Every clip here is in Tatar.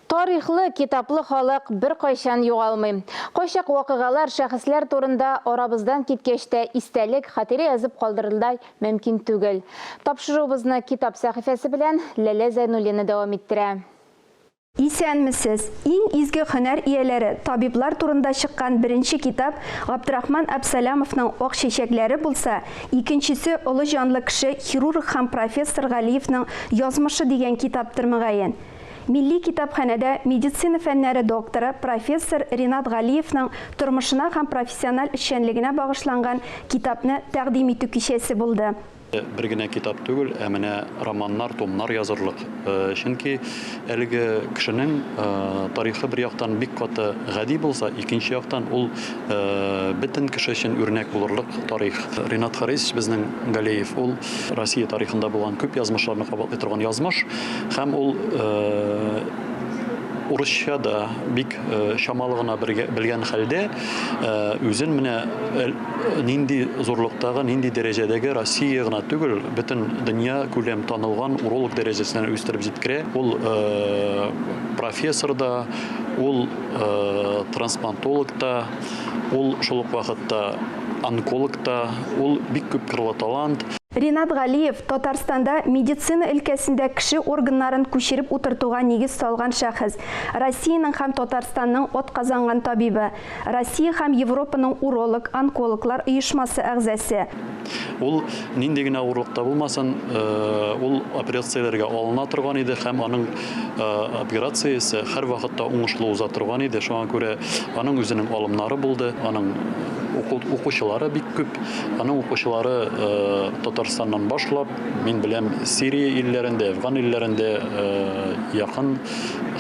Тарихлы, китаплы халык беркайчан югалмый. Кайчак вакыйгалар, шәхесләр турында арабыздан киткәч тә истәлек, хатирә язып калдырырдай мөмкин түгел. Тапшыруыбызны китап сәхифәсе белән Ләлә Зәйнуллина дәвам иттерә. Исәнмесез! Иң изге һөнәр ияләре, табиблар турында чыккан беренче китап Габдрахман Абсалямовның Ак чәчәкләре булса, Икенчесе, олы җанлы кеше, хирург һәм профессор Галиевның Язмышы дигән китаптыр, мөгаен. Милли китапханәдә медицина фәннәре докторы, профессор Ринат Галиевның тормышына һәм профессиональ эшчәнлегенә багышланган китапны тәкъдим итү кичәсе булды. Бер генә китап түгел, ә менә романнар, томнар язырлык. Чөнки әлеге кешенең тарихы бер яктан бик каты гади булса, икенче яктан ул бөтен кеше өчен үрнәк булырлык тарих. Ринат Харисович безнең Галеев ул Россия тарихында булган күп язмышларны кабатлый торган язмыш һәм ул урысча да бик чамалы гына белгән хәлдә үзен менә нинди зурлыктагы, нинди дәрәҗәдәге Россия гына түгел, бөтен дөнья күләм танылган уролог дәрәҗәсенә үстереп җиткерә. Ул э, профессор да, ул э, трансплантолог та, ул шул ук вакытта онколог та, ул бик күп кырлы талант. Ринат Галиев, Татарстанда медицина өлкәсендә кеше органнарын күчереп утыртуга нигез салган шәхес, Россиянең һәм Татарстанның атказанган табибы, Россия һәм Европаның уролог, онкологлар оешмасы әгъзасе. Ул нинди генә авырлык та булмасын, ул операцияләргә алына торган иде һәм аның операциясе һәрвакытта уңышлы уза торган иде. Шуңа күрә аның үзенең алымнары булды, аның укучылары бик күп. Аның укучылары Татарстаннан башлап, мин беләм, Сирия илләрендә, Әфган илләрендә, якын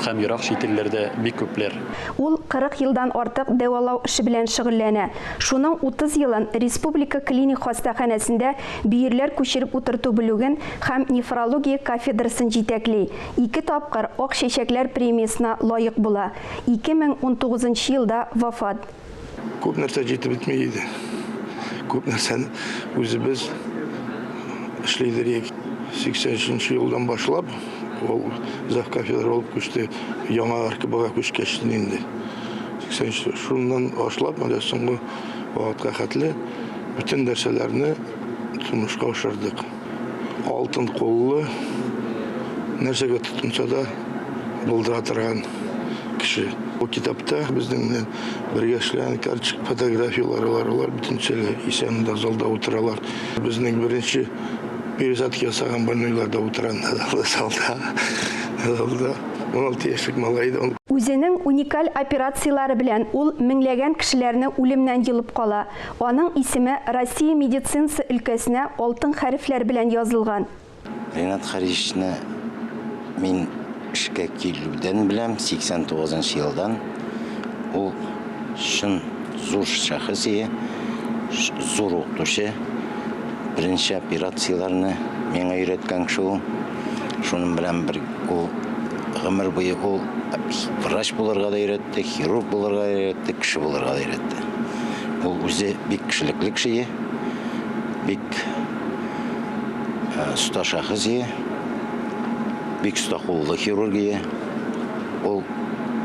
һәм ерак чит илләрдә бик күпләр. Ул 40 елдан артык дәвалау эше белән шөгыльләнә. Шуның 30 елын республика клиник хастаханәсендә бөерләр күчереп утырту бүлеген һәм нефрология кафедрасын җитәкли, ике тапкыр Ак чәчәкләр премиясенә лаек була, 2019 елда вафат. Күп нәрсә җитеп бетми иде. Күп нәрсәне үзебез эшли идек. 83 елдан башлап ул зав кафедра булып күчте. Яңа РКБга күчкәч инде. 83 шуннан башлап менә соңгы вакытка хәтле бөтен нәрсәләрне тормышка ашырдык. Алтын куллы, нәрсәгә тотынса да булдыра торган кеше. Бу китапта безнең белән бергә эшләгән карточка фотографияләре бар, алар бөтенчәле исән дә залда утыралар. Безнең беренче пересадка ясаган больнойлар да утыра залда. Залда 16 яшьлек малай да. Үзенең уникаль операцияләре белән ул меңләгән кешеләрне үлемнән йолып кала. Аның исеме Россия медицинасы өлкәсенә алтын хәрефләр белән язылган. Ренат Харисны мин эшкә килүдән беләм, 89 нчы елдан. Ул чын зур шәхес ие, зур укытучы. Беренче операцияләрне миңа өйрәткән кеше ул. Шуның белән бер ул гомер буе ул врач булырга да өйрәтте. Тик хирург булырга өйрәтте, кеше булырга да өйрәтте. Ул үзе бик кешелекле кеше иде. Бик оста шәхес иде. Бик оста куллы хирург иде. Ул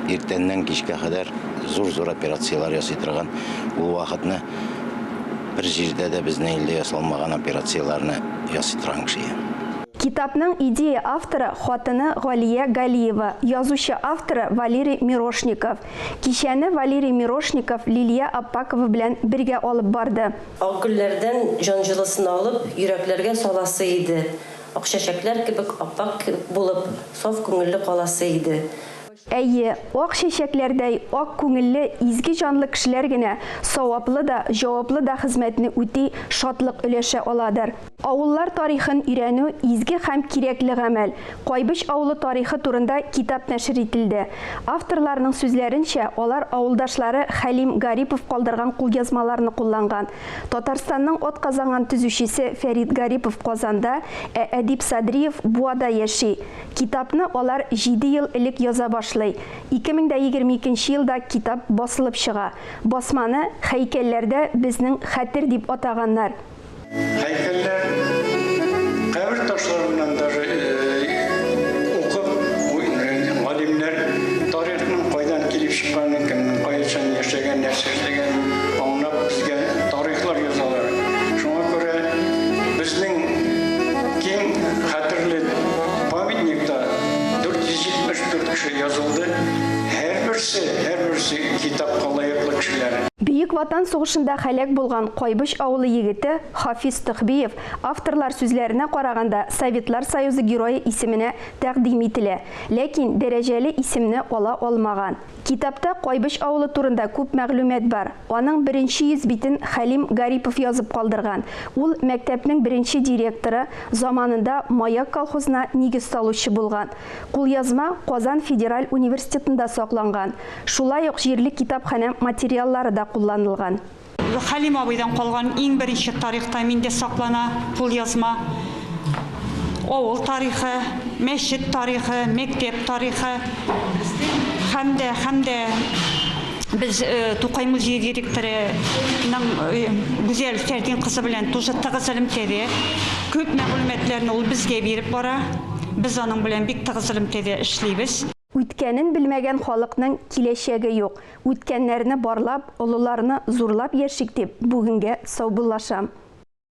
иртәннән кичкә кадәр зур-зур операцияләр ясый торган. Ул вакытны бер җирдә дә безнең илдә ясалмаган операцияләрне ясый торган кеше иде. Китапның идея авторы хатыны Галия Галиева, язучы авторы Валерий Мирошников. Кичәне Валерий Мирошников Лилия Аппакова белән бергә алып барды. Ак гөлләрдән җан җылысын алып, йөрәкләргә саласы иде, ак чәчәкләр кебек ап-ак булып, саф күңелле каласы иде. Әйе, ак чәчәкләрдәй ак күңелле, изге җанлы кешеләр генә саваплы да, җаваплы да хезмәтне үти, шатлык өләшә аладыр. Авыллар тарихын өйрәнү, изге һәм кирәкле гамәл. Кайбыч авылы тарихы турында китап нәшер ителде. Авторларның сүзләренчә, алар авылдашлары Хәлим Гарипов калдырган кулъязмаларны кулланган. Татарстанның атказанган төзүчесе Фәрит Гарипов Казанда, ә Әдип Садриев Буада яши. Китапны алар җиде ел элек яза башлый. 2022 нче елда китап басылып чыга. Басманы һәйкәлләрдә безнең хәтер дип атаганнар. Һәйкәлләр кабер ташларыннан даже укып галимнәр тарихның кайдан килеп чыкканын, кемнең кайчан яшәгәнен, нәрсә эшләгәнен аңлап безгә тарихлар язалар. Шуңа күрә безнең киң хәтерле Памятникта 474 кеше язылды. Һәрберсе, һәрберсе китапка лаеклы кешеләр. Бөек Ватан сугышында һәлак булган Кайбыч авылы егете Хафиз Төхбиев, авторлар сүзләренә караганда, Советлар Союзы Герое исеменә тәкъдим ителә, ләкин дәрәҗәле исемне ала алмаган. Китапта Кайбыч авылы турында күп мәгълүмат бар. Аның беренче йөз битен Хәлим Гарипов язып калдырган. Ул мәктәпнең беренче директоры, заманында Маяк колхозына нигез салучы булган. Кулъязма Казан федераль университетында сакланган. Шулай ук җирле китапханә материаллары да кулланылган. Хәлим абыйдан калган иң беренче тарихта миндә саклана, кулъязма. Авыл тарихы, мәчет тарихы, мәктәп тарихы һәм дә, һәм дә без Тукай музее директорының Гүзәл Фәрдин кызы белән тоже тыгыз элемтәдә. Күп мәгълүматларны ул безгә биреп бара. Без аның белән бик тыгыз элемтәдә эшлибез. Үткәнен белмәгән халыкның киләчәге юк. Үткәннәрне барлап, олыларны зурлап яшик дип, бүгенгә саубуллашам.